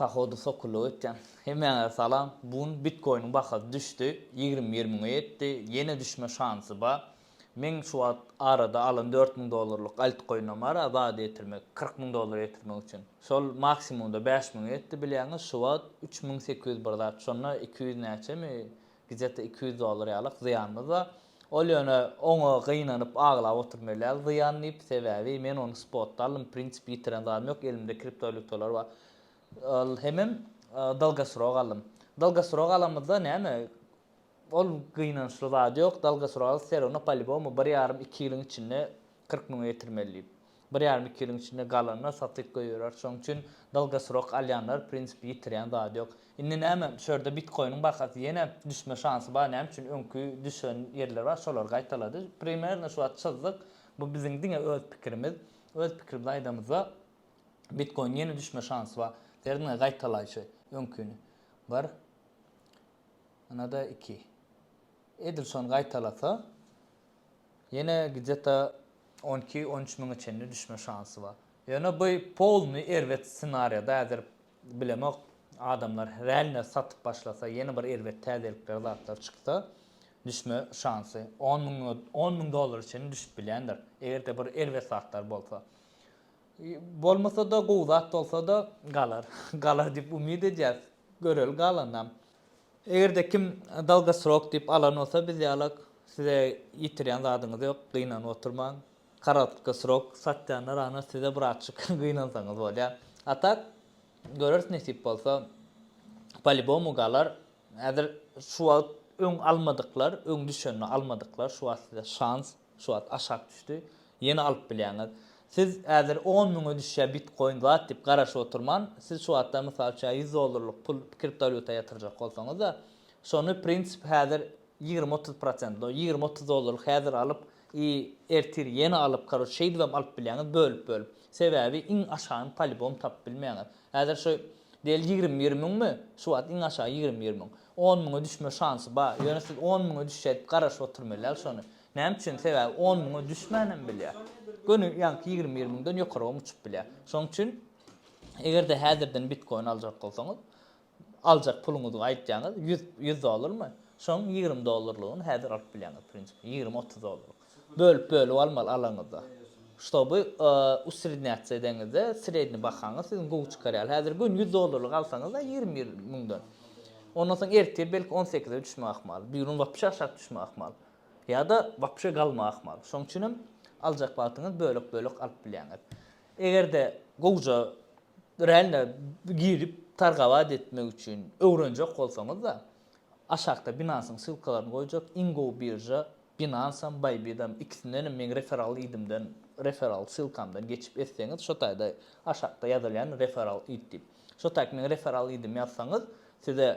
Pohody sokulluk etýän hemmäňize salam bu gün bitkoiniň bahasy düşdi ýigrimi bir müňe ýetdi ýene düşme şansy ba meň şu wagt arada alan dört müň dollarlyk altkoinim bar azady ýetirmek kyrk müň dollar ýetirmek üçin şol maksimumda bäş müňe ýetdi bilýäňiz şu wagt üç müň sekiz ýüz bir zat şonda iki ýüz näçemi Gijete iki ýüz dollar ýalyk zyýanymyz bar. Ol ýöne oňa gynanyp aglap oturma ýaly zyýan diýip, sebäbi men ony spotda aldym, w prinsipi ýitiren zadym ýok, elimde kriptowalýutalar bar. Ol hemem dalgasrok aldym. Dalgasrok alamyzda näme, ol gynançly zat ýok, dalgasrok alsa serowno palibomu bir ýarym iki ýylyň içinde kyrk müňe ýetirmeli diýip. Bir ýarym iki ýylyň içinde galanlar satyk goýberer. Şoň üçin dalgasrok alýanlar w prinsipi ýitirýän zady ýok. Indi näme şu ýerde bitkoiniň bahasy ýene düşme şansy bar näme üçin öňki düşen ýerler bar şolary gaýtalady. Primerno şu wagt çyzdyk. Bu biziň diňe öz pikirimiz. Öz pikirimizi aýdamyzda bitkoiniň ýene düşme şansy bar. Ser diňe gaýtalaýşy öňkini. Bir ynada iki. Edil şony gaýtalasa. Ýene gde-ta on iki, on üç müňe çenli düşme şansy bar. Ýöne bu polnyý erbet ssenariýada häzir bilemok, adamlar realno satyp başlasa, ýene bir erbet täzelikler zatlar çyksa, düşme şansy on müňe, on müň dollara çenli düşüp bilýändir, eger-de bir erbet zatlar bolsa. Bolmasa-da, gowy zat bolsa-da galar. Galar diýip umyt edýäs. Göreli galanynam. Eger-de kim Dalgosrok diýip alan bolsa biz ýalak size ýitirýän zadyňyz ýok, gynanyp oturmaň. Korotkosrok satýanlar ana size bratçyk gynansaňyz bolýar. A tak göreris nesip bolsa polibomu galar. Häzir şu wagt öň almadyklar, öň düşenini almadyklar şu wagt size şans. Şu wagt aşak düşdi. Ýene alyp bilýäňiz. Siz häzir on müňe düşýä bitkoin zat diýip garaşyp oturman, siz şu wagtda mysal üçin ýüz dollarlyk pul kriptowalýuta ýatyrjak bolsaňyzda, şony prinsip häzir ýigrimi otuz prosent, no ýigrimi otuz dollarlyk häzir alyp i ertir ýene alyp karoç şeýdibem alyp bilýäňiz bölüp bölüp. Sebäbi iň aşagyny polibom tapyp bilmeýäňiz. Häzir şu diýeli ýigrimi bir müňmi? Şu wagt iň aşagy ýigrimi bir müň. On müňe düşme şansy bar. Ýöne siz on müňe düşjek garaşyp oturmalyal şony. Näme üçin? Sebäbi on müňe düşmänem bilýär. Göni ýaňky ýigrimi bir müňden ýokarygam uçup bilýär. Şonuň üçin eger-de häzirden bitkoin aljak bolsaňyz, aljak puluňyzy aýtýaňyz, ýüz, ýüz dollarmy? Şoň ýigrimi dollarlygyny häzir alyp bilýäňiz, prinsipi, ýigrimi, otuz dollarlyk. Bölüp bölüp almaly alaňyzda. Ştoby usrednýatsiýa edeňizde sredni bahaňyz siziň gowy çykar ýaly. Häzir gün ýüz dollarlyk alsaňyzda ýigrimi bir müňden. Ondan soň ertir belki on sekize düşme ahmal. Bigün wapşe aşak düşme ahmal. Ýa-da wapşe galma ahmal. Şoň üçin hem aljak wagtyňyz bölek bölek alyp bilýäňiz. Egerde gowja rände girip targabat etmek üçin öwrenjek bolsaňyzda Aşakda Binance-yň ssylkalaryny goýjak, iň gowy birža Binance-am, Bybit-am, ikisindenem meň referral idimden, referral ssylkamdan geçip etseňiz, şo taýda aşakda ýazylýan referral id diýip. Şo taýky meň referral idimi ýazsaňyz, size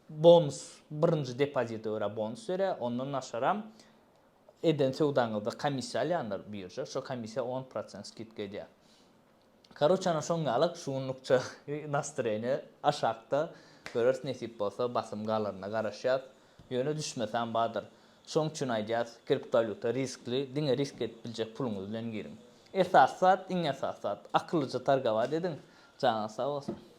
bonus, birinji depozite görä bonus berýär, ondan naşaram eden söwdaňyzda komissiýa alýandyr birža, şo komissiýa on prosent skidka edýär. Karoçe ana şoň ýalyk şu günlükçe nastreniýe aşakda göreris nesip bolsa basym galanyna garaşýas ýöne düşmesem bardyr şoň üçin aýdýas kriptowalýuta riskli diňe risk edip biljek puluňyz bilen giriň esasy zat iň esasy zat akyllyja targowat ediň janyňyz sag bolsun.